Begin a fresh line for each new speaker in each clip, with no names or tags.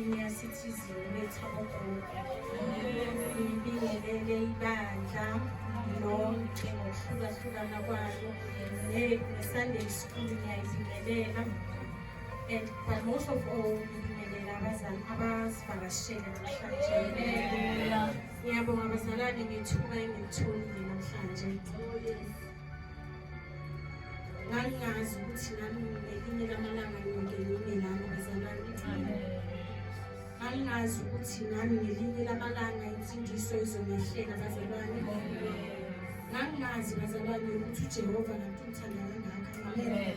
Senior Citizen Metropolitan ngibingelele ibandla lonke ngokuhlukahlukana kwalo ne-Sunday School ngiyayibingelela and but most of all ngibingelela abazali abasivakashele namhlanje ngiyabonga abazalwane ngethuba engilitholile namhlanje ngangingazi ukuthi nami ngelinye lamalanga ngiyoke ngime lami bazalwane ngangingazi ukuthi nami ngelinye lamalanga insindiso izomehlela bazalwane ngangingazi bazalwane ukuthi ujehova kanti umthanda kangaka amen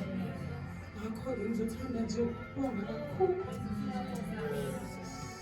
ngakho-ke ngizothanda nje ukubonga kakhulu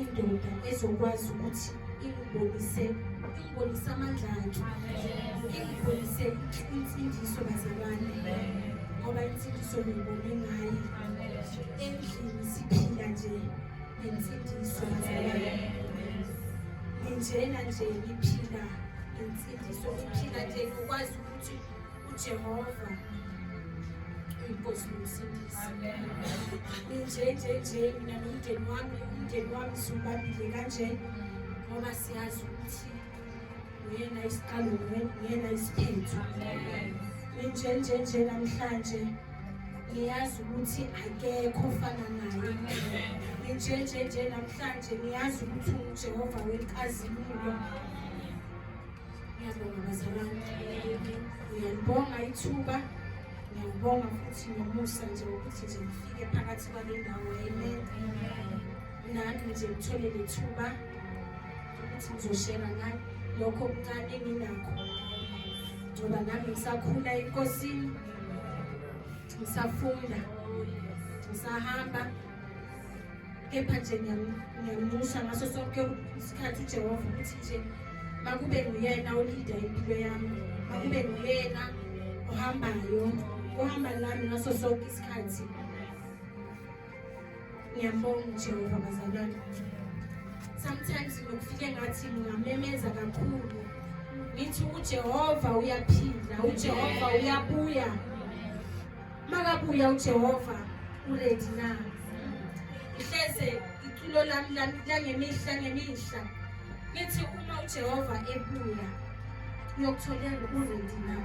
indoda ezokwazi ukuthi ingibonise ingibonise amandla akhe ingibonise insindiso bazalwane ngoba insindiso ngiyibone ngaye endlini siphila nje nensindiso bazalwane nginjena nje ngiphila nensindiso ngiphila nje ngikwazi ukuthi uJehova uyinkosi nomsindisi nje nje nje mina nomndeni wami umndeni wami siwubambile kanje ngoba siyazi ukuthi uyena isiqalo uyena isiphetho nje nje nje namhlanje ngiyazi ukuthi akekho ofana naye nje nje nje namhlanje ngiyazi ukuthi ungujehova wenkazimulo Ngiyabonga bazalwane, ngiyalibonga ithuba, ngiyawubonga futhi nomusa nje ukuthi nje ngifike phakathi kwale ndawo. Amen. Nami nje ngithole lethuba ukuthi ngizoshera ngani lokho okuncane enginakho, ngoba nami ngisakhula enkosini, ngisafunda, ngisahamba. kepha nje ngiyamnxusa ngaso sonke isikhathi ujehova ukuthi nje makube nguyena olida impilo yami makube nguyena ohambayo ohamba nami ngaso sonke isikhathi ngiyambonga ujehova bazalwane sometimes ngokufike ngathi ngingamemeza kakhulu ngithi ujehova uyaphila ujehova uyabuya makabuya ujehova uredi na ngihleze iculo lami langemihla ngemihla ngithi uma ujehova ebuya uyokutholela uredi na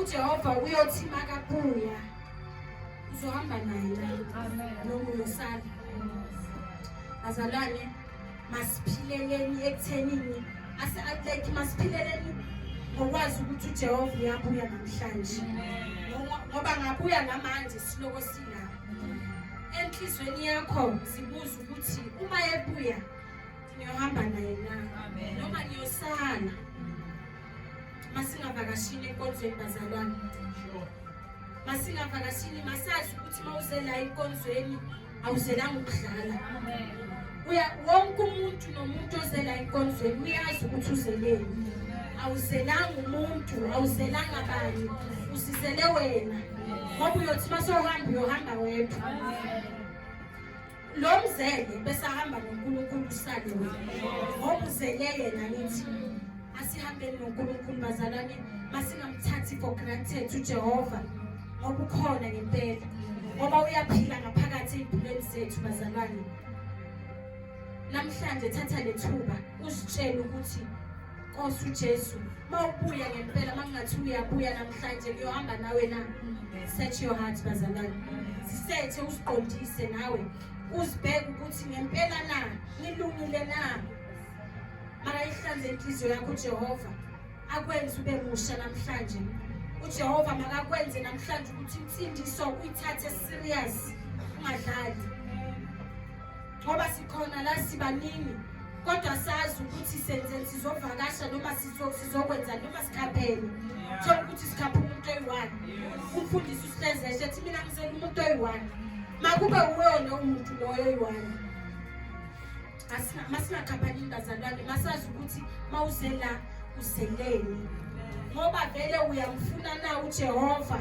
ujehova uyothi makabuya uzohamba naye noma uyosala azalwane masiphileleni ekuthenini ase-atleti masiphileleni ngokwazi ukuthi ujehova uyabuya namhlanje ngoba ngabuya namanje siloko silapho enhlizweni yakho zibuza ukuthi uma ebuya ngiyohamba naye na noma ngiyosala masingavakashini enkonzweni bazalwane masingavakashini masazi ukuthi uma uze la enkonzweni awuzelanga ukudlala uya wonke umuntu nomuntu ozela enkonzweni uyazi ukuthi uzeleni awuzelanga umuntu awuzelanga abanye usizele wena ngoba uyothi uma sohamba uyohamba wedwa lo mzele besahamba nonkulunkulu usale wena ngoba uzele yena ngithi Asihambeni noNkulunkulu bazalwane, masingamthathi for granted uJehova ngoba ukhona ngempela, ngoba uyaphila ngaphakathi ey'mpilweni zethu bazalwane. Namhlanje thatha le thuba uzitshele ukuthi Nkosi uJesu, uma ubuya ngempela, uma kungathi uyabuya namhlanje kuyohamba nawe na? Search your heart bazalwane, sisethe usiqondise nawe uzibheke ukuthi ngempela na ngilungile na makayihlanze inhliziyo yakho ujehova akwenze ube musha namhlanje ujehova makakwenze namhlanje ukuthi insindiso uyithathe serious ungadlali ngoba sikhona la sibaningi kodwa sazi ukuthi senze sizovakasha noma sizokwenza noma sikhaphele thola ukuthi sikhaphe umuntu oyi-one umfundisi usihlezeshe ethi mina ngizela umuntu oyi-one makube uwona umuntu loyo oyi-one masingaqaphani bazalwane masazi ukuthi mawuze la uzeleni ngoba vele uyamfuna na ujehova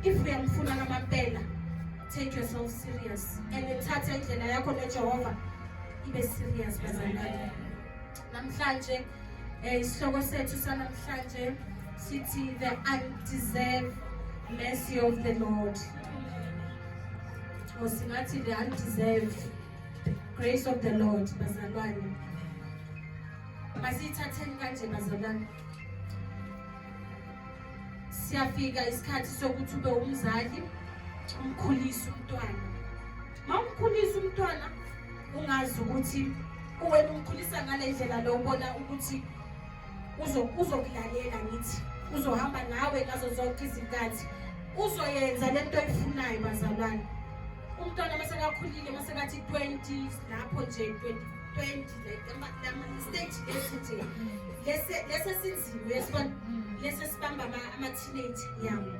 if uyamfuna ngamampela take yourself serious and thatha indlela yakho nejehova ibe serious bazalwane Namhlanje eh, isihloko sethu sanamhlanje sithi the undeserved mercy of the Lord. Or singathi the undeserved grace of the Lord bazalwane. Masithatheni kanje bazalwane. Siyafika isikhathi sokuthi ube umzali umkhulise umntwana. Mawumkhulisa umntwana ungazi ukuthi uwena umkhulisa ngale ndlela lo ubona ukuthi uzokulalela ngithi uzohamba nawe ngazo zonke izinkathi uzoyenza le nto oyifunayo bazalwane umntwana masekakhulile masekathi 20 lapho nje 20 stage lesi nje lesi esinzima lesi esibamba ama-teenage yabo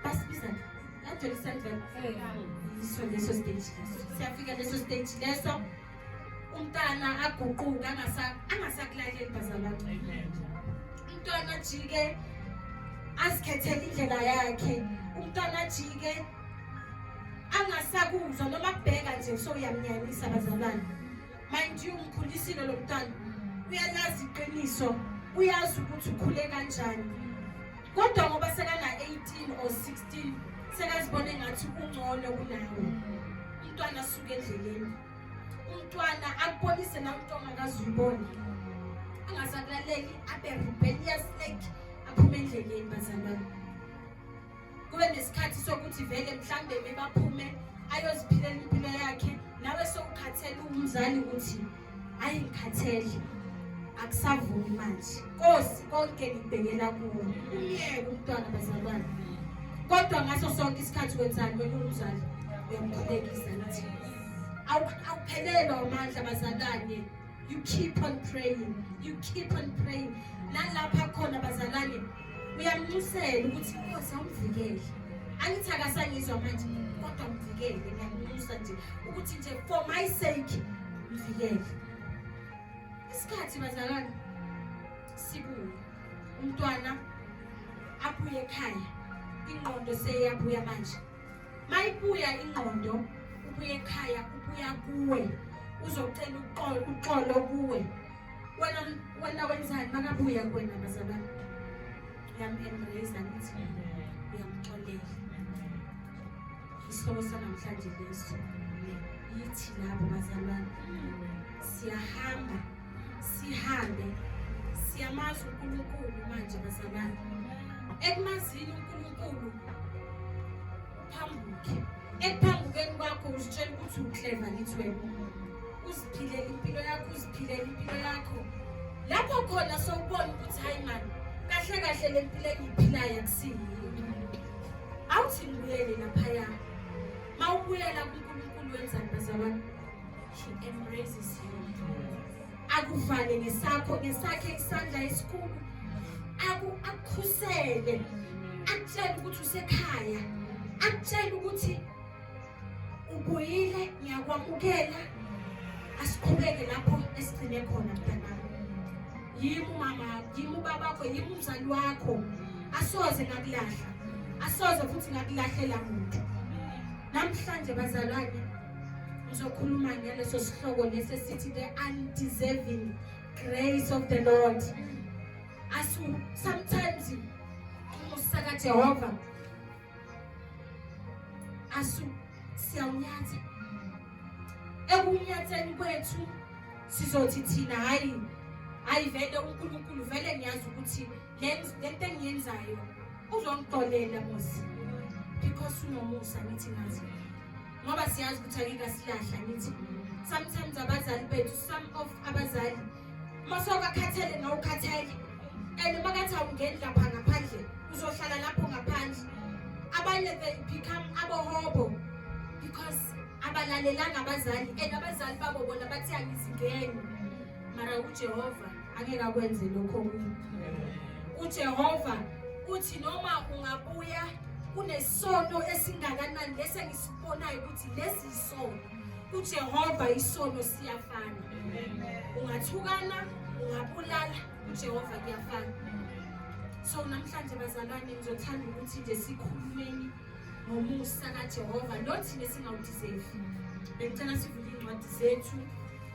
basibiza ngajoli sandleni yiso leso stage leso siyafika leso stage leso umntana aguquke angasakulaleli bazalatu umntwana ajike azikhethele indlela yakhe umntwana ajike angasakuzwa noma kubheka nje so uyamnyanyisa bazalwane mind you umkhulisile lo mntana uyalazi iqiniso uyazi ukuthi ukhule kanjani kodwa ngoba sekana-18 or 16 sekazibona engathi ungcono kunawo umntwana asuke endleleni umntwana akubonise na umntu ongakazuyiboni angasakulaleli abe rebellious like aphume endleleni bazalwane kube nesikhathi sokuthi vele mhlambe bebaphume ayoziphilela impilo yakhe nawe sokukhathele umzali ukuthi ayi ngikhathele akusavumi manje kosi konke ngibhekela kuwo umyeke umntwana bazalwane kodwa ngaso sonke isikhathi wenzani wena umzali uyamkhulekisa nathi awuphelelwa amandla bazalwane You keep on praying. You keep on praying. Nalapha khona bazalwane uyamnxusela ukuthi inkosi awumvikele. Angithi akasangizwa manje kodwa mvikele ngiyanxusa nje ukuthi nje for my sake mvikele. Isikhathi bazalwane sibuye. Umntwana abuye ekhaya. Ingqondo seyabuya manje. mayibuya ingqondo ubuye ekhaya ubuya kuwe uzocela uxolo uxolo kuwe wena wena wenzani makabuya kuwena bazalwane ngiyam-embrace ngithi uyamxolela isihloko sanamhlanje leso yithi labo bazalwane siyahamba Sihambe siyamazi uNkulunkulu manje bazalwane. Ekumazini uNkulunkulu phambuke. Ekuphambukeni kwakho uzitshela ukuthi ukleva ngithi wena. Uziphilela impilo yakho, uziphilela impilo yakho. Lapho khona sokubona ukuthi hayi mani kahle kahle le mpilo engiyiphilayo akusiyiyo. Awuthi ngibuyele laphaya. Mawubuyela kuNkulunkulu wenzani bazalwane? She embraces you. Akuvale ngesakho ngesakhe isandla esikhulu. Aku akukhusele. Akutshela ukuthi usekhaya. Akutshela ukuthi ubuyile ngiyakwamukela. Asiqhubeke lapho esigcine khona mntanami. Yimi umama, yimi ubaba wakho, yimi umzali wakho. Asoze ngakulahla. Asoze futhi ngakulahlela muntu. Namhlanje bazalwane uzokhuluma ngaleso sihloko lesi esithi the undeserving grace of the lord asu sometimes umusa kajehova asu siyawunyatha ekunyatheni kwethu sizothi thina hhayi hhayi vele unkulunkulu vele ngiyazi ukuthi lento engiyenzayo uzongixolela muzi because unomusa ngithi ngazi ngoba siyazi ukuthi akike asilahla ngithi sometimes abazali bethu some of abazali masokakhathele nawukhathele and uma kathi awungeni lapha ngaphandle uzohlala lapho ngaphandle abanye they become abohobo because abalalelanga abazali and abazali babo bona bathi angizingeni mara ujehova angeke akwenze lokho kuyo uJehova uthi noma ungabuya kunesono esingakanani lesi engisibonayo ukuthi lesi isono uJehova isono siyafana ungathukana ungabulala uJehova kuyafana so namhlanje bazalwane ngizothanda ukuthi nje sikhulumeni ngomusa kaJehova nothina singawudeserve bengicela sivule incwadi zethu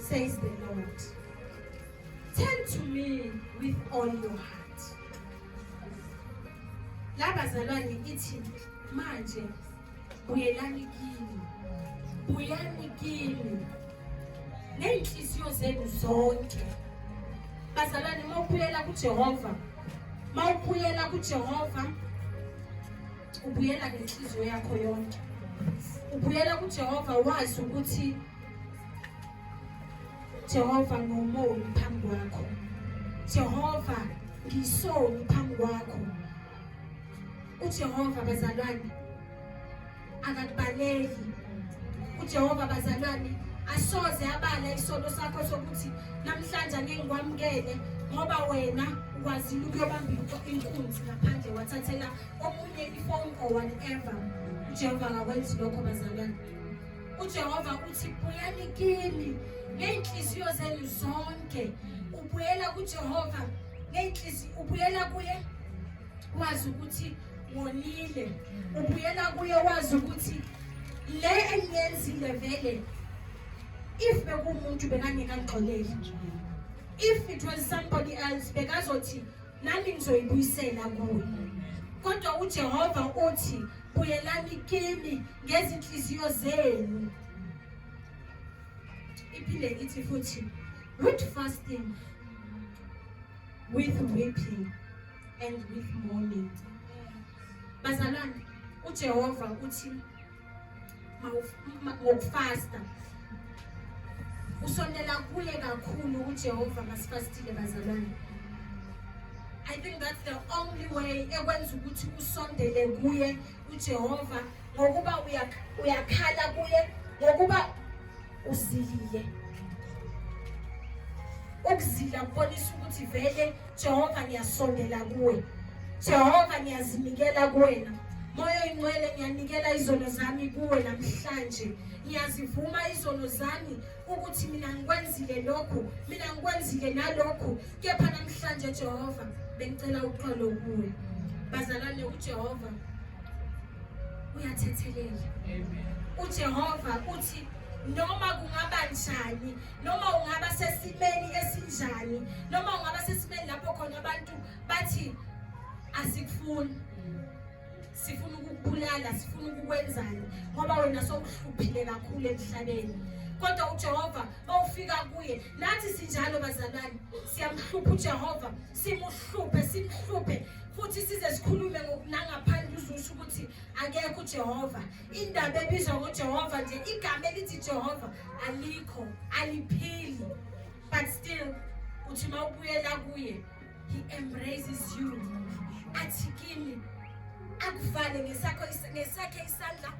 says the Lord. Turn to me with all your heart. Labazalwane ithi manje buyelani kimi. Buyani kimi. Neyinhliziyo zenu zonke. Bazalwane mawubuyela kuJehova. Mawubuyela kuJehova ubuyela ngenhliziyo yakho yonke. Ubuyela kuJehova wazi ukuthi Jehova ngomoni phambi kwakho Jehova ngisoni phambi kwakho uJehova bazalwane akakubaleki uJehova bazalwane asoze abala isono sakho sokuthi namhlanje angeke ngikwamukele ngoba wena ukwazile ukuyobambisa inkunzi ngaphandle wathathela omunye ifoni or whatever uJehova akakwenzi lokho bazalwane UJehova uthi bulani kimi ngey'nhliziyo zenu zonke ubuyela kuJehova ngey'nhliziyo ubuyela kuye wazi ukuthi wonile ubuyela kuye wazi ukuthi le engiyenzile vele if bekuwumuntu bekangekangixoleli if it was somebody else bekazothi nami ngizoyibuyisela kuwe kodwa ujehova uthi buyelani kimi ngezinhliziyo zenu iphinde ithi futhi with fasting with weeping and with mourning bazalwane ujehova uthi ngokufasta usondela kuye kakhulu ujehova masifastile bazalwane i think that's the only way ekwenza ukuthi usondele kuye ujehova ngokuba uyakhala kuye ngokuba uzilile ukuzila kubonisa ukuthi vele Jehova ngiyasondela kuwe Jehova ngiyazinikela kuwena moya oyingcwele ngiyanikela izono zami kuwe namhlanje ngiyazivuma izono zami ukuthi mina ngikwenzile lokhu mina ngikwenzile nalokhu kepha namhlanje Jehova bengicela uxolo kuwe bazalwane uJehova uyathethelela uJehova uthi noma kungaba njani noma ungaba sesimeni esinjani noma ungaba sesimeni lapho khona abantu bathi asikufuni sifuna ukukubulala sifuna ukukwenzani ngoba wena sowuhluphile kakhulu emhlabeni kodwa uJehova bawufika kuye nathi sinjalo bazalwane siyamhlupha uJehova simuhluphe simhluphe futhi size sikhulume ngokunangaphandle uzusho ukuthi akekho uJehova Indaba ebizwa ngoJehova nje igama elithi Jehova alikho aliphili but still uthi uma ubuyela kuye he embraces you athi kimi akuvale ngesakho ngesakhe isandla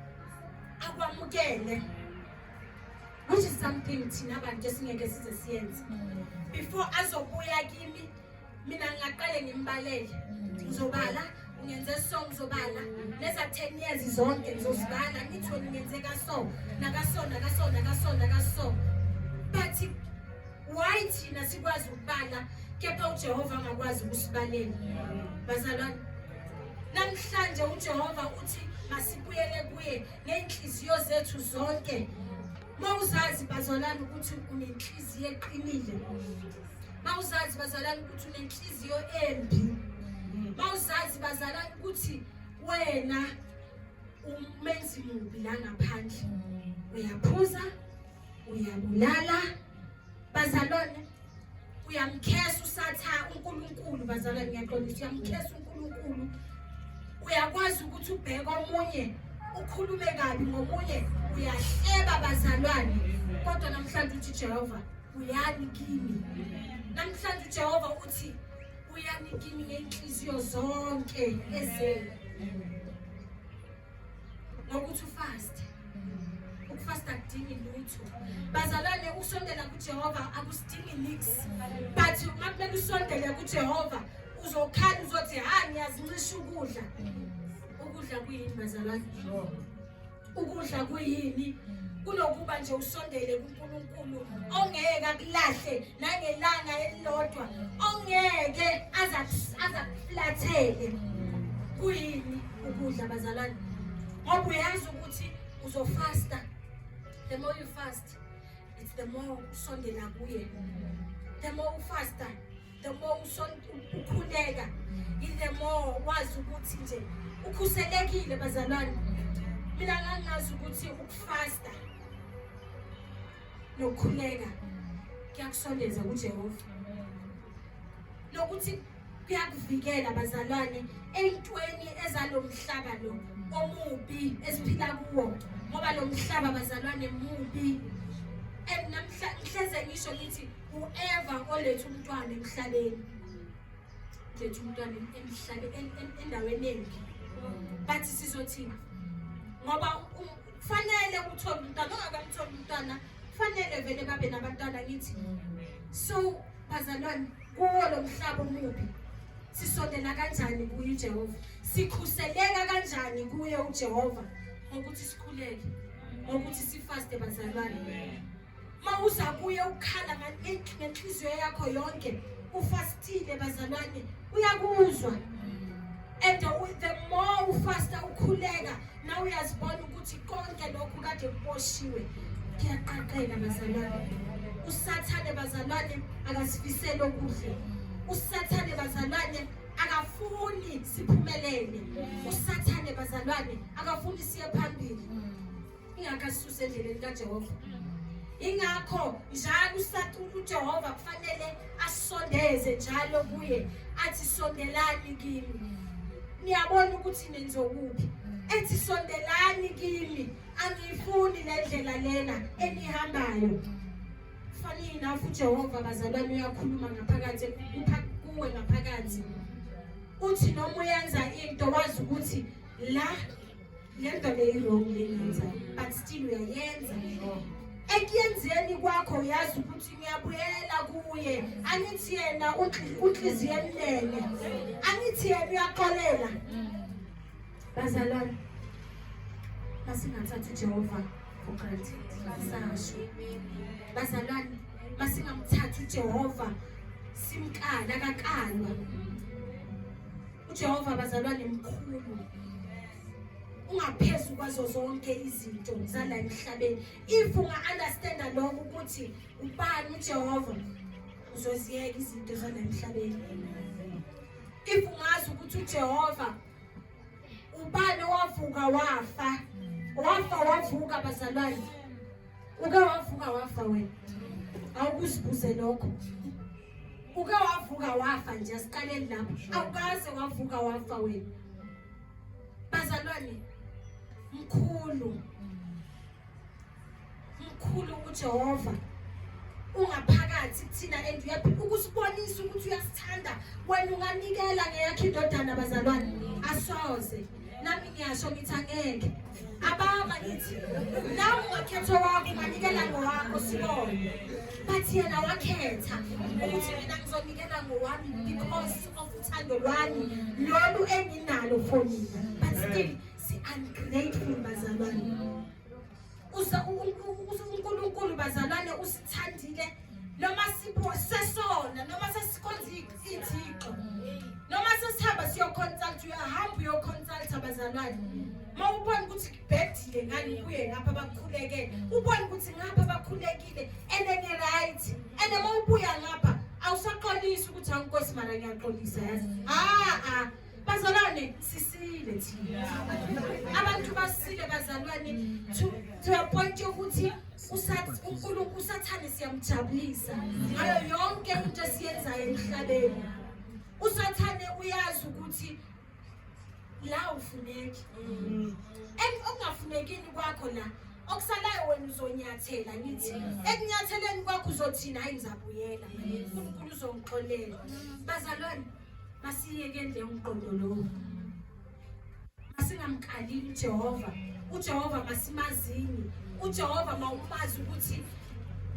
akwamukele which is something thina bantu esingeke size siyenze before azobuya kimi mina ngingaqale ngimbalele ngizobala ngenze so ngizobala leza 10 years zonke ngizozibala ngithoni ngenze kaso nakaso nakaso nakaso nakaso but why thina sikwazi ukubala kepha uJehova angakwazi ukusibalela bazalwane namhlanje uJehova uthi masibuyele kuye ngenhliziyo zethu zonke mawuzazi bazalwane ukuthi unenhliziyo eqinile mawuzazi bazalana ukuthi unenhliziyo embi mawuzazi bazalana ukuthi wena umenzi mubi la ngaphandle uyaphuza uyabulala bazalwane uyamkhesa usatha uNkulunkulu bazalwane ngiyaxolisa uyamkhesa uNkulunkulu uyakwazi ukuthi ubheke omunye ukhulume kabi ngomunye uyahleba bazalwane kodwa namhlanje uthi Jehova Buyani kimi. Namhlanje uJehova uthi buyani kimi ngenhliziyo zonke ezenu. Ngokuthi ufaste. Ukufasta kudingi lutho. Bazalwane ukusondela kuJehova akusidingi nix. But uma kumele usondele kuJehova uzokhala uzothi ha ngiyazincisha ukudla. Ukudla kuyini bazalwane? ukudla kuyini kunokuba nje usondele kuNkulunkulu ongeke akulahle nangelanga elilodwa ongeke azakuflathele kuyini ukudla bazalwane ngoba uyazi ukuthi uzofasta the more you fast it's the more usondela kuye the more ufasta the more ukhuleka in the more wazi ukuthi nje ukhuselekile bazalwane mina ngangazi ukuthi ukufasta nokukhuleka kuyakusondeza kujehova nokuthi kuyakuvikela bazalwane ey'ntweni ezalo mhlaba lo omubi esiphila kuwo ngoba lo mhlaba bazalwane mubi and namhla ngihleze ngisho ngithi uEva oletha umntwana emhlabeni letha umntwana emhlabeni endaweni embi bathi sizothini ngoba kufanele uthole umntwana ongakamtholi umntwana kufanele vele babe nabantwana ngithi so bazalwane kuwo lo mhlaba omubi sisondela kanjani kuye uJehova sikhuseleka kanjani kuye uJehova ngokuthi sikhuleke ngokuthi sifaste bazalwane mawuza kuye ukukhala ngenhliziyo yakho yonke ufastile bazalwane uyakuzwa and the more ufasta ukhuleka na uyazibona ukuthi konke lokhu kade kuboshiwe kuyaqaqela bazalwane usathane bazalwane akasifisele okuhle usathane bazalwane akafuni siphumelele usathane bazalwane akafuni siye phambili ingakho asisuse endleleni kajehova ingakho njalo usacula ujehova kufanele asondeze njalo kuye athi sondelani kimi niyabona ukuthi nenzokuphi ethi sondelani kimi angiyifuni le ndlela lena enihambayo fanele nafu ujehova bazalwane uyakhuluma ngaphakathi kupha kuwe ngaphakathi uthi noma uyenza into wazi ukuthi la lento le i-wrong leyenza but still uyayenza ekuyenzeni kwakho uyazi ukuthi ngiyabuyela kuye angithi yena unhliziyo emnene angithi yena uyaxolela bazalwane masingathathi ujehova for granted masasho bazalwane masingamthathi ujehova simkala kakalwa uJehova bazalwane mkhulu ungaphezu kwazo zonke izinto zala emhlabeni if unga-understanda lokho ukuthi ubani ujehova uzoziyeka izinto zala emhlabeni if ungazi ukuthi ujehova ubani owavuka wafa wafa wavuka bazalwane uke wavuka wafa wena awukuzibuze lokho uke wavuka wafa nje asiqaleni lapho awukaze wavuka wafa wena bazalwane mkhulu mkhulu uJehova ungaphakathi kuthina and uyaphila ukusibonisa ukuthi uyasithanda wena unganikela ngeyakhe indodana bazalwane asoze nami ngiyasho ngithi angeke ababa ngithi nawe ungakhetha wakho unganikela ngowakho sibone but yena wakhetha ukuthi mina ngizonikela ngowami because of uthando lwami lolu enginalo for mina but still si-ungrateful bazalwane uNkulunkulu bazalwane usithandile noma sipho sesona noma sesikhonza ithixo noma sesihamba siyoconsult uyahamba uyoconsult abazalwane uma ubona ukuthi kubhedile ngani kuye ngapha bakhulekele ubona ukuthi ngapha bakhulekile and ene right and uma ubuya ngapha awusaxolisi ukuthi awunkosi mara ngiyaxolisa yazi ha ha Bazalwane sisile thina. Abantu basile bazalwane to to a point yokuthi uNkulunkulu usathane siyamjabulisa ngayo yonke into esiyenzayo emhlabeni. Usathane uyazi ukuthi la ufuneki. Mm. And okungafunekini kwakho la okusalayo wena uzonyathela ngithi ekunyatheleni kwakho uzothina hayi ngizabuyela uNkulunkulu uzongixolela bazalwane Masiyekele umqondo lowo. Masingamkhalili uJehova. uJehova masimazini uJehova mawumazi ukuthi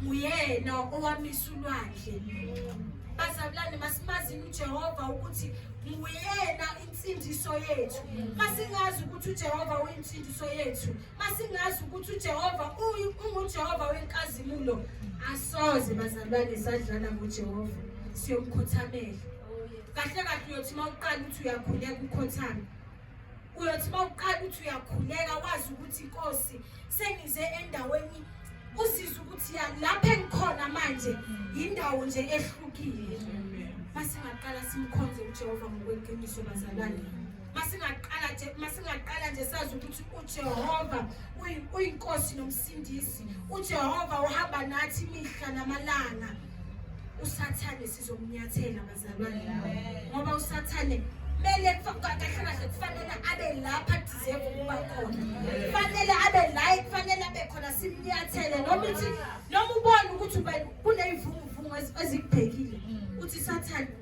nguyena owamisa ulwandle bazalwane masimazini uJehova ukuthi nguyena insindiso yethu masingazi ukuthi uJehova uyinsindiso yethu Masingazi ukuthi uJehova unguJehova wenkazimulo asoze bazalwane sadlala ngoJehova siyomkhothamela. Kahle kahle uyothi mawuqala ukuthi uyakhuleka ukhothame. Uyothi mawuqala ukuthi uyakhuleka wazi ukuthi inkosi sengize endaweni uzizwe ukuthi ya lapha engikhona manje yindawo nje ehlukile. Masingaqala simkhonze uJehova ngokweqiniso bazalwane. masingaqala nje masingaqala nje sazi ukuthi uJehova uyinkosi nomsindisi uJehova uhamba nathi imihla namalanga usathane sizomnyathela bazalwane ngoba usathane kumele kahle kahle kufanele abe lapha deserve ukuba khona kufanele abe la kufanele abe khona simnyathele noma uthi noma ubona ukuthi kuneyivunguvungu ezikubhekile uthi sathane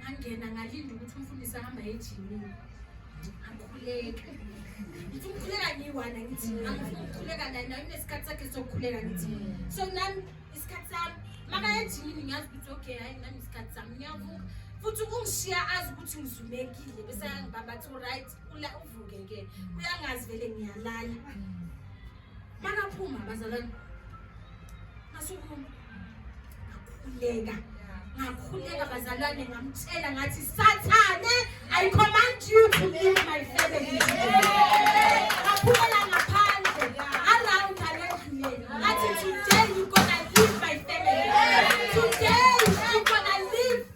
ngangena ngalinda ukuthi umfundisi ahamba ejimini akhuleke ngithi umkhuleka ngiyi-one angithi angifuna ukukhuleka naye naye unesikhathi sakhe sokukhuleka ngithi so nami isikhathi sami makaya ejimini ngiyazi ukuthi okay hayi nami isikhathi sami ngiyavuka futhi ungishiya azi ukuthi ngizumekile bese yangibamba athi right ula uvuke ke uyangazi vele ngiyalala makaphuma bazalwane masukume ngakhuleka ngakhuleka bazalwane ngamtshela ngathi sathane i command you to leave my family ngaphumela ngaphandle around alendluleni ngathi today you gonna leave my family today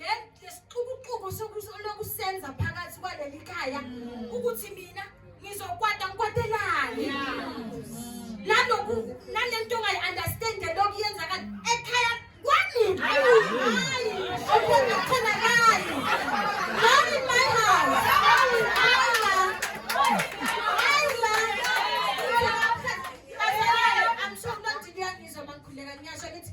le lesixukuxuku sokuso- lokusenza phakathi kwaleli khaya ukuthi mina ngizokwata ngikwatelani naloku nalento ongayi-understand lokhu yenzakala ekhaya kwami hayi okwengatholakali not in my house hayi ma hayi ma Bazalwane, I'm sure kunodini uyangizwa uma ngikhuleka ngiyasho ngithi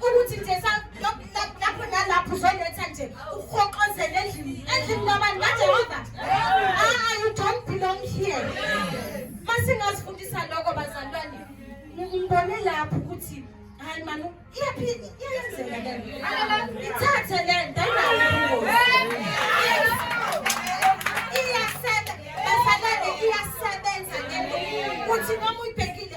ukuthi nje lapho nalapho uzonetha nje uhoqozele endlini endlini kwabantu kajehova aa you don't belong here masingazifundisa lokho bazalwane ngibone lapho ukuthi hayi mani iyaphi iyayenzeka lento ithathe lento iyasebenza bazalwane iyasebenza lento ukuthi noma uyibhekile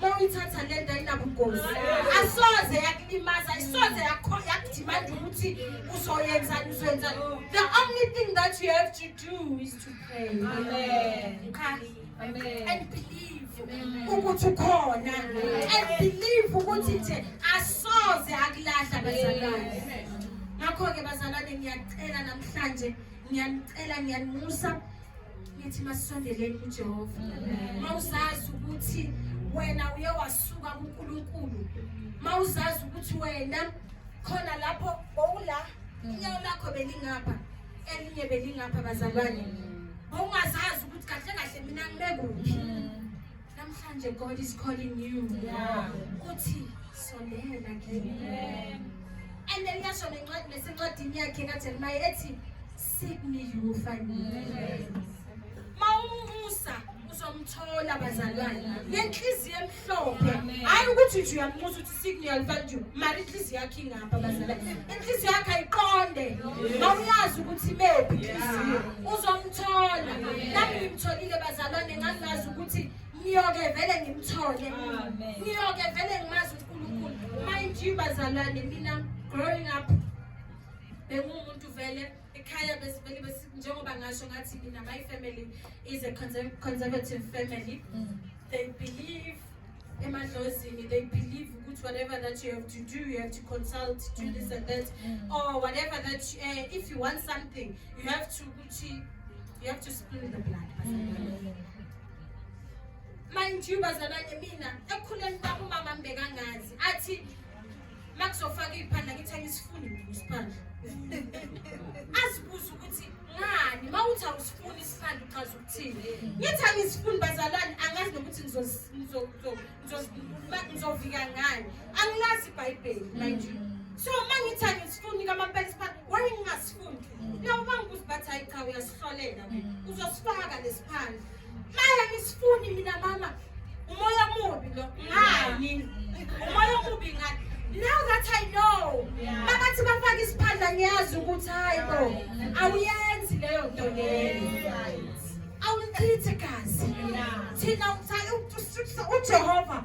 mawuyithatha lento ayinabungozi asoze yakulimaza ayisoze yakudimanda ukuthi uzoyenzani uzoyenzani the only thing that you have to do is to pray Amen. Amen. and believe ukuthi ukhona and believe ukuthi nje asoze akulahla bazalwane ngakho-ke bazalwane ngiyacela namhlanje ngiyanicela ngiyanusa ngithi masisondeleni kuJehova mawuzazi ukuthi wena uye wasuka kuNkulunkulu mawuzazi ukuthi wena khona lapho bowula inyawo lakho belingapha elinye belingapha bazalwane bowungazazi ukuthi kahle kahle mina ngime kuphi namhlanje God is calling you uthi sondela kimi and then yasho nencwadi nesencwadini yakhe kaJeremiah ethi mawumusa uzomthola bazalwane ngenhliziyo emhlophe hayi ukuthi nje uyamusa ukuthi signe yalifanju mari inhliziyo yakhe ingapha bazalwane inhliziyo yakhe ayiqonde mawuyazi ukuthi mephi inhliziyo uzomthola nami ngimtholile bazalwane ngangazi ukuthi ngiyoke vele ngimthole ngiyoke vele ngimazi unkulunkulu mind you bazalwane mina growing up bengumuntu vele ekhaya besivele njengoba ngasho ngathi mina my family is a conservative family mm. they believe emadlozini they believe ukuthi whatever that you have to do you have to consult do mm. this and that mm. or whatever that you, uh, if you want something you have to ukuthi you have to spill the blood mm. mind you bazalwane mina ekhuleni kwami umama mbekangazi athi uma kuzofaka iy'phandla ngithi angisifuni mina isiphandla azibuze ukuthi ngani uma uthi awusifuni isiphandla uchaza ukuthini ngithi angisifuni bazalwane angazi nokuthi ngizovika ngani angilazi ibhayibheli mind you so uma ngithi angisifuni kamampela isiphandla waye ngingasifuni naw uma ngibuza bathi hayi cha uyasihlolela uzosifaka lesiphandla Maya nisifuni mina mama. Umoya mubi lo. Ngani? Umoya mubi ngani? Now that I know. Mama thi bafaka isiphandla ngiyazi ukuthi hayi bo. Awuyenzi leyo nto leyo. Awulichithi gazi. Thina uthanda uJehova.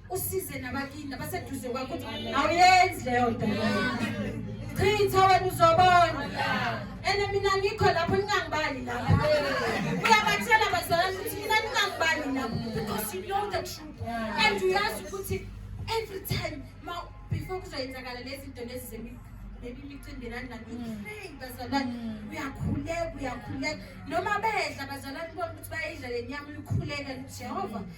usize nabakini nabaseduze kwakho ukuthi awuyenzi leyo nto chitha wena uzobona ene mina ngikho lapho ningangibali lapho uyabathela bazalwane ukuthi mina ningangibali lapho because you know the truth and uyazi ukuthi every time ma before kuzoyenzakala lezi zinto lezi zemigqo maybe imicindelani nanipray mm. bazalwane mm. uyakhuleka uyakhuleka noma bedla bazalwane bona ukuthi bayidla le nyama uyikhuleka jehova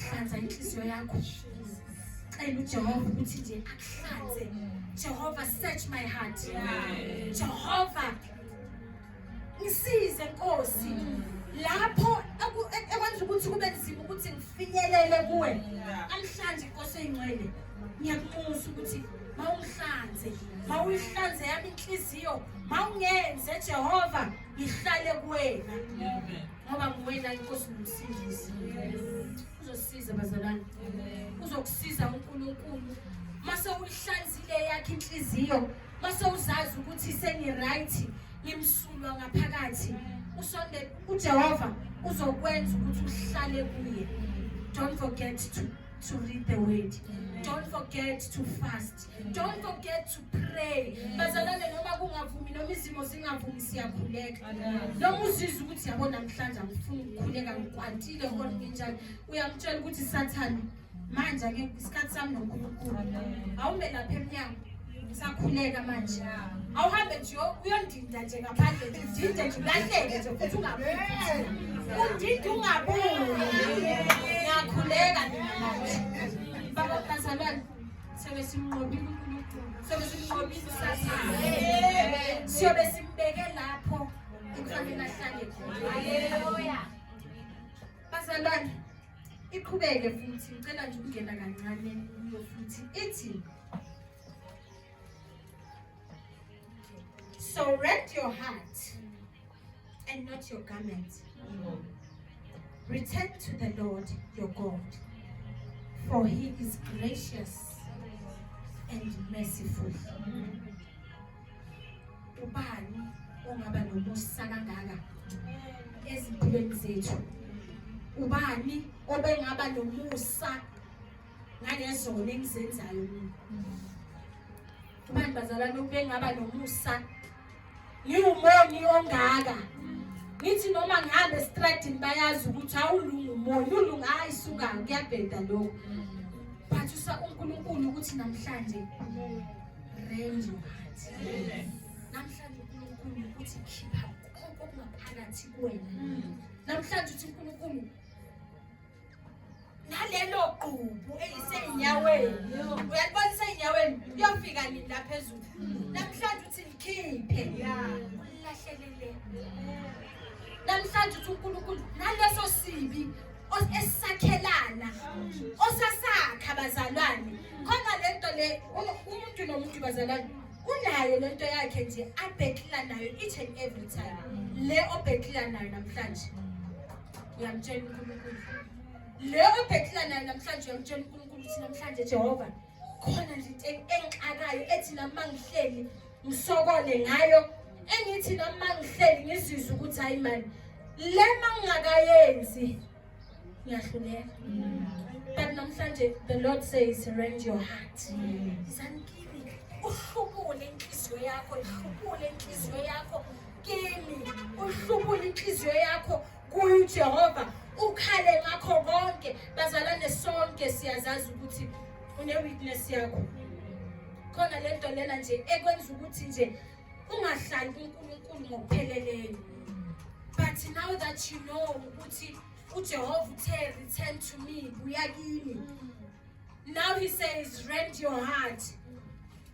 hlanza inhliziyo yakho cela uJehova ukuthi nje akuhlanze Jehova search my heart Jehova ngisize Nkosi lapho ekwenza ukuthi kube nzima ukuthi ngifinyelele kuwe namhlanje Nkosi eyingcwele ngiyakubuza ukuthi mawungihlanze mawuyihlanze yami inhliziyo mawungenze Jehova ngihlale kuwena ngoba nguwena inkosi nomsindisi uzosiza bazalwane uzokusiza unkulunkulu mase uyihlanzile yakhe inhliziyo mase uzazi ukuthi sengi-right ngimsulwa ngaphakathi usonde ujehova uzokwenza ukuthi uhlale kuye don't forget to, to read the word don't forget to fast don't forget to pray bazalwane noma kungavumi noma izimo zingavumi siyakhuleka noma uzizwa ukuthi yabo namhlanje angifuni ukukhuleka ngikwantile or nginjani uyamtshela ukuthi sathane manje ake isikhathi sami nonkulunkulu awume lapha emnyango sakhuleka manje awuhambe nje uyondinda nje ngaphandle nje udinde nje ulahleke nje futhi ungabuyi undinde ungabuyi ngiyakhuleka mina manje baba bazalwane Siyobe simnqobile uNkulunkulu. Siyobe simnqobile uSathane. Siyobe simbeke lapho ekufanele ahlale khona. Haleluya. Bazalwane, iqhubeke futhi ngicela nje ukungena kancane kuyo futhi ithi So rent your heart. and not your garments. Return to the Lord your God, for he is gracious and merciful. Ubani ongaba nomusa kangaka ezimpilweni zethu? Ubani obengaba nomusa ngalezona engizenzayo mina abantu bazalwane ukube ngaba nomusa ngiwumoni ongaka ngithi noma ngihambe estradini bayazi ukuthi awulungu umoni ulunga hayi suka kuyabheda lokho phathisa unkulunkulu ukuthi namhlanje renje namhlanje unkulunkulu ukuthi khipha konke okungaphakathi kuwena namhlanje uthi unkulunkulu nalelo gqubu eliseyinyaweni uyalibona iseyinyaweni kuyofika nini la phezulu namhlanje uthi likhiphe ulilahlelele namhlanje uthi unkulunkulu naleso sibi esisakhelana osasakha bazalwane khona le nto le umuntu nomuntu bazalwane unayo le nto yakhe nje abhekila nayo each and every time le obhekila nayo namhlanje uyamtshela uNkulunkulu le obhekela nayo namhlanje uyamtshela uNkulunkulu ukuthi namhlanje Jehova khona nje into engixakayo ethi nami ngihleli ngisokole ngayo engithi nami ngihleli ngizizwe ukuthi hayi mani le mangingakayenzi ngiyahluleka but namhlanje the lord says surrender your heart mm. isani kimi uhlubule inhliziyo yakho ihlubule inhliziyo yakho kini uhlubula inhliziyo yakho kuye uJehova ukhale ngakho konke bazalwane sonke siyazazi ukuthi une witness yakho khona lento lena nje ekwenza ukuthi nje ungahlali kuNkulunkulu ngokupheleleyo but now that you know ukuthi uJehova uthe return to me buya kimi Now he says rent your heart.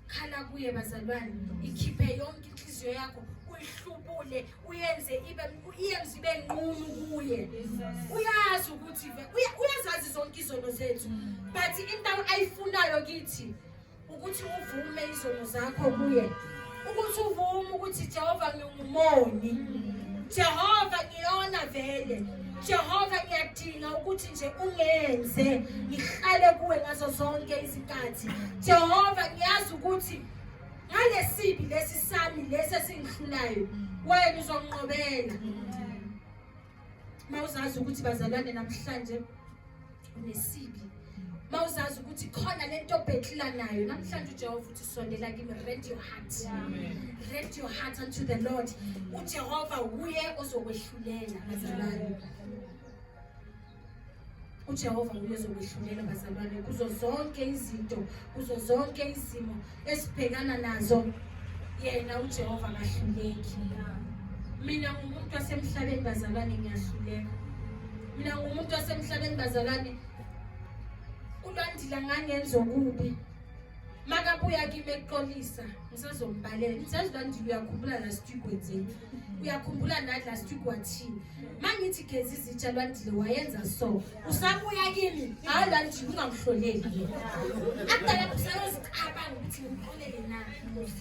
Khala kuye bazalwane, ikhiphe yonke inhliziyo yakho, uyihlubule, uyenze ibe uyenze ibe nqunu kuye. Uyazi ukuthi uyazazi zonke izono zethu. But into ayifunayo kithi ukuthi uvume izono zakho kuye ukuthi uvume ukuthi Jehova ngingumoni Jehova ngiyona vele Jehova ngiyadinga ukuthi nje ungenze ngihlale kuwe ngazo zonke izikhathi Jehova ngiyazi ukuthi ngalesibi lesi sami lesi esingihlulayo wena uzonqobela mawuzazi ukuthi bazalwane namhlanje unesibi mawuzazi ukuthi khona lento obhekila nayo namhlanje uJehova uthi sondela kimi rent your heart rent your heart unto the Lord uJehova uye ozokwehlulela bazalwane uJehova nguye ozokwehlulela bazalwane kuzo zonke izinto kuzo zonke izimo esibhekana nazo yena uJehova akahluleki mina ngumuntu wasemhlabeni bazalwane ngiyahluleka mina ngumuntu wasemhlabeni bazalwane ulandila ngangenza okubi makabuya kimi ekuxolisa ngisazombalela ngisazi ulandila uyakhumbula la studio kwenzeni uyakhumbula nani last week wathini mangithi gezi izitsha lwandile wayenza so usabuya kimi hayi lwandile ungangihloneli akudala kusayozicabanga ukuthi ngimxolele na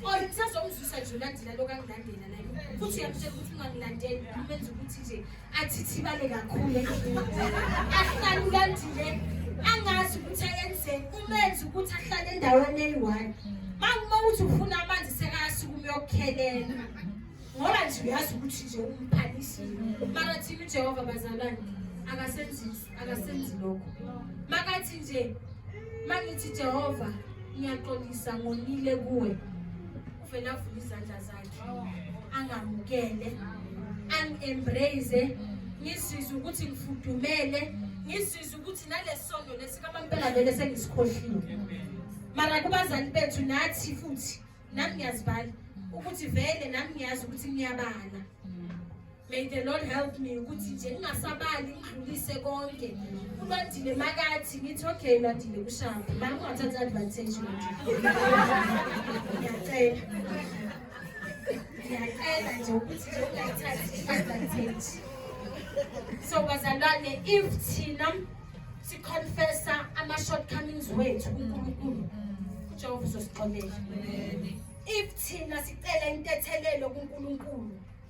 or kusazomzwisa nje ulandela lokangilandela naye futhi uyamtshela ukuthi ungangilandeli umenza ukuthi nje athithibale kakhulu ahlalulandile angazi ukuthi ayenzeni umenzi ukuthi ahlale endaweni eyi-one makuma ukuthi ufuna amanzi sekayasukume uyokukhelela ngoba nje uyazi ukuthi nje umphanisile mara thina ujehova bazalwane akasenzi akasenzi lokho makathi nje mangithi jehova ngiyaxolisa ngonile kuwe Uvele avule izandla zakhe angamukele angi-embrace ngizizwe ukuthi ngifudumele ngizizwe ukuthi nalesondo lesikamampela vele sengisikhohliwe mara kubazali bethu nathi futhi nami ngiyazibala ukuthi vele nami ngiyazi ukuthi ngiyabala May the Lord help me ukuthi nje ngingasabali ngidlulise konke. Ubandile makathi ngithi okay nadile kushaphi. Mama ungathatha advantage manje. Ngiyacela. Ngiyacela nje ukuthi nje ungayithathi advantage. So bazalwane if thina si confessa ama shortcomings wethu kuNkulunkulu. uJehova uzosixolela. If thina sicela intethelelo kuNkulunkulu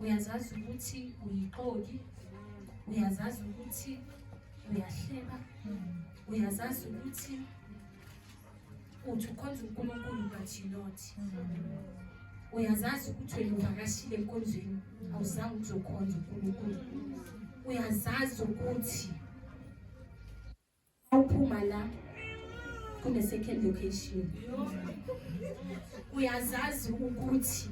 uyazazi ukuthi uyixoki uyazazi ukuthi uyahleba uyazazi ukuthi uthi ukhonza unkulunkulu but you not uyazazi ukuthi wena uvakashile enkonzweni awuzange ukuthi ukhonza unkulunkulu uyazazi ukuthi Awuphuma la kune second location. Uyazazi ukuthi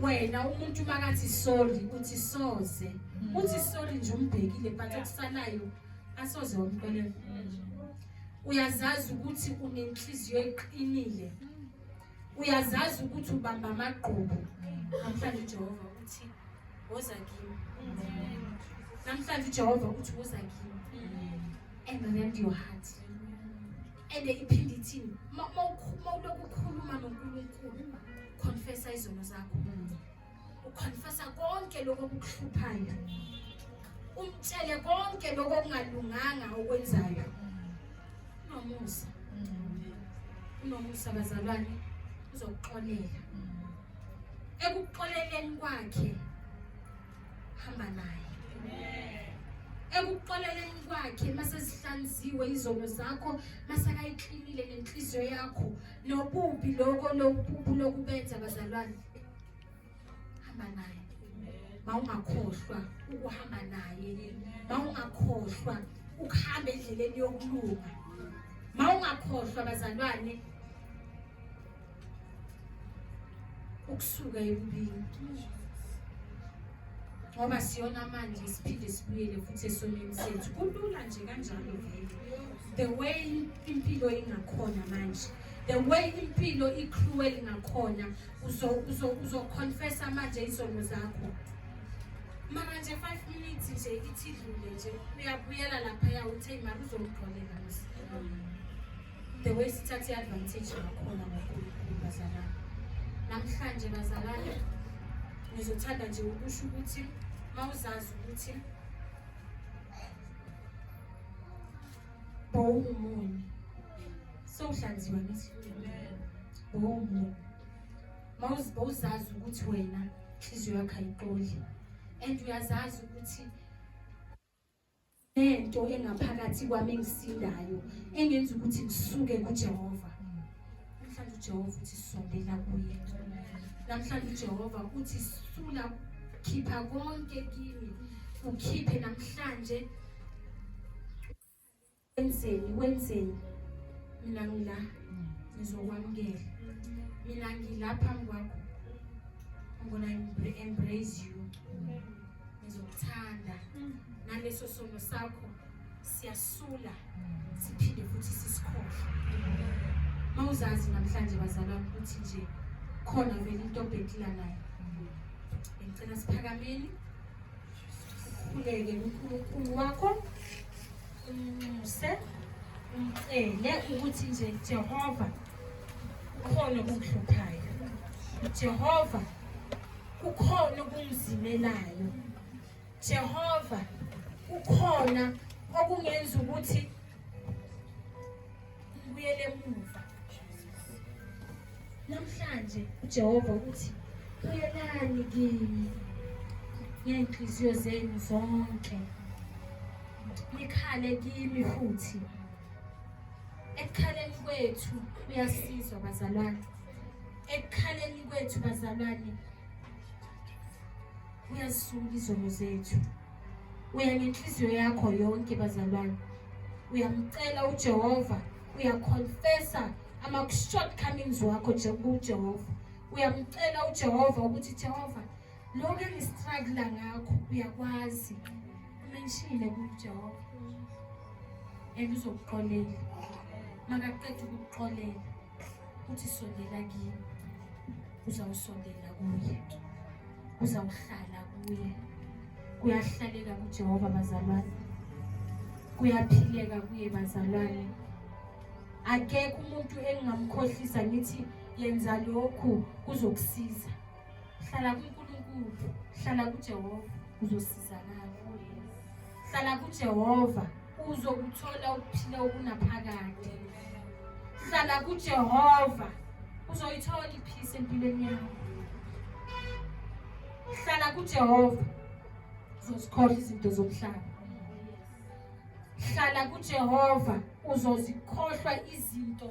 wena umuntu makathi sorry uthi soze. Uthi sorry nje umbhekile but okusalayo asoze wamxolela. Uyazazi ukuthi unenhliziyo eqinile. uyazazi ukuthi ubamba amagqubu namhlanje ujehova uthi woza kimi namhlanje ujehova uthi woza kimi and rend your heart and iphinde ithini uma ulokhu ukhuluma nonkulunkulu confessa izono zakho ukhonfesa konke lokho okukuhluphayo umtshele konke lokho okungalunganga okwenzayo unomusa unomusa bazalwane uzokuxolela ekuxoleleni kwakhe hamba naye ekuxoleleni kwakhe masezihlanziwe izono zakho masakayiklinile nenhliziyo yakho nobubi lokho lokububu lokubenza bazalwane hamba naye mawungakhohlwa ukuhamba naye mawungakhohlwa ukuhamba endleleni yokulunga mawungakhohlwa bazalwane ukusuka ekubini ngoba siyona manje siphinde sibuyele futhi esonweni sethu kulula nje kanjalo vele the way impilo ingakhona manje the way impilo i-cruel ngakhona uzoconfessa manje izono zakho mara nje five minutes nje ithi idlule nje uyabuyela laphaya uthe mara uzomgqolela the way sithathe i-advantage ngakhona kakhulukhulu bazalana namhlanje bazalana ngizothanda nje ukusho ukuthi uma uzazi ukuthi bowungumuni Sohlanziwa nesifundo. Boom. Mawuzi bowuzazi ukuthi wena inhliziyo yakho ayiqoli. And uyazazi ukuthi nento engaphakathi kwami engisindayo engenza ukuthi ngisuke kuJehova. Namhlanje uJehova uthi sondela kuye. Namhlanje uJehova uthi sula khipha konke kimi. Ukhiphe namhlanje Wenzeni, wenzeni. Mina ngila ngizokwamukela. Mina ngila phambi kwakho. I'm gonna embrace you. Ngizokuthanda. Naleso sono sakho siyasula siphinde futhi sisikhohle. Mawuzazi namhlanje bazalwa ukuthi nje khona vele into obhekila nayo. Ngicela siphakameni. Ukhuleke kuNkulunkulu wakho. umnxuse umcele ukuthi nje Jehova kukhona okungihluphayo Jehova kukhona okungizimelayo Jehova kukhona okungenza ukuthi Ubuyele emuva. Namhlanje uJehova uthi buyelani kimi ngey'nhliziyo zenu zonke nikhale kimi futhi ekukhaleni kwethu kuyasizwa bazalwane ekukhaleni kwethu bazalwane kuyazisula izono zethu uya ngenhliziyo yakho yonke bazalwane uyamcela ujehova uyaconfesa ama-shortcomings wakho kujehova uyamcela ujehova ukuthi jehova lokhu engistrugula ngakho uyakwazi umenshile kujehova and uzokuxolela makaqeda ukukuxolela uthi sondela kimi uzawusondela kuye kuzawuhlala kuye kuyahlaleka kujehova bazalwane kuyaphileka kuye bazalwane akekho umuntu engingamkhohlisa ngithi yenza lokhu kuzokusiza hlala kunkulunkulu hlala kujehova uzosizakala hlala kujehova uzokuthola ukuphila okunaphakade hlala kujehova uzoyithola iphisi empilweni yakho hlala kujehova uzozikhohlwa izinto zomhlaba hlala kujehova uzozikhohlwa izinto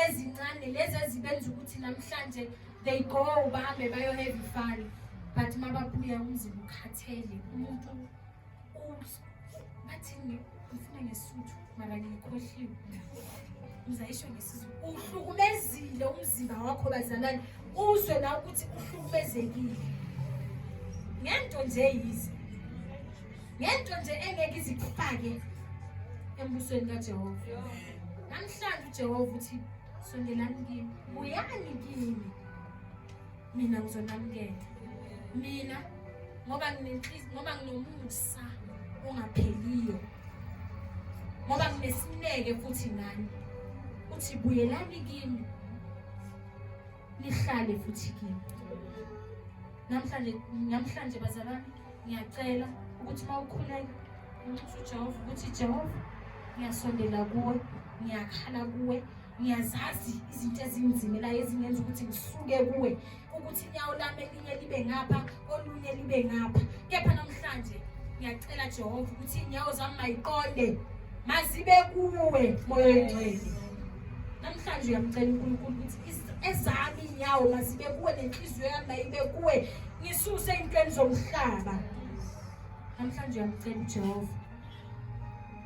ezincane lezi ezibenza ukuthi namhlanje they go bahambe bayoheva ifani but mababuya umzimba ukhathele umuntu bathini ngifuna ngesuthu mara ngikhohliwe uzayisho ngesizulu uhlukumezile umzimba wakho bazalwane uzwe la ukuthi uhlukumezekile ngento nje yize ngento nje engeke izikufake embusweni kajehova namhlanje ujehova uthi sondelani kimi buyani kimi mina ngizonamukela mina ngoba nginenhliziyo ngoba nginomusa ongapheliyo ngoba nginesineke futhi nani uthi buyelani kimi nihlale futhi kimi namhlanje namhlanje bazalwane ngiyacela ukuthi uma ukhuleka unxusa ujehova ukuthi jehova ngiyasondela kuwe ngiyakhala kuwe ngiyazazi izinto ezinzimelayo ezingenza ukuthi ngisuke kuwe ukuthi inyawo lami elinye libe ngapha olunye libe ngapha kepha namhlanje ngiyacela jehova ukuthi iy'nyawo zami mayiqonde mazibe kuwe moya oyingcwele namhlanje uyamcela unkulunkulu ukuthi ezami iy'nyawo mazibe kuwe nenhliziyo yami mayibe kuwe ngisuse ey'ntweni zomhlaba namhlanje uyamcela ujehova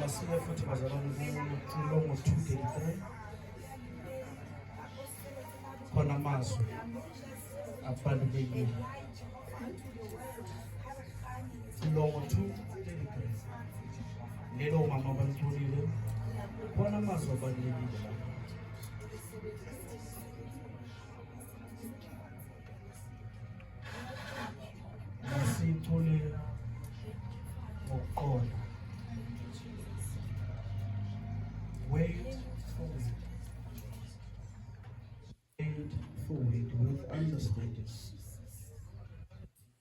Masiye futhi bazalwane kulo ngo-233 khona amazwi abalulekile kulo ngo-233 lelo mama balitholile khona amazwi abalulekile Siyitholela ngokuqonda. Wait for it. Wait for it with understanding.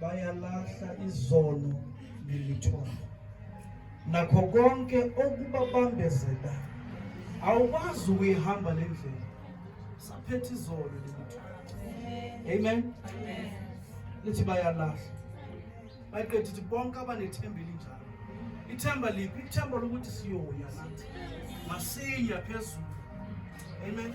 bayalahla izono nemithwalo nakho konke okubabambezela awukwazi ukuyihamba le ndlela saphetha izono nemithwalo amen lithi bayalahla bayiqeda ithi bonke abanethemba elinjalo ithemba liphi ithemba lokuthi siyoya nathi masiya phezulu amen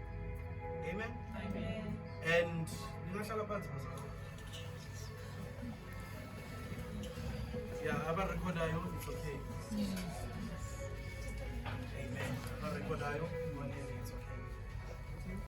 Amen. Amen. And ningahlala phansi bazalwane. Yeah, abarekhodayo it's okay. Amen. Abarekhodayo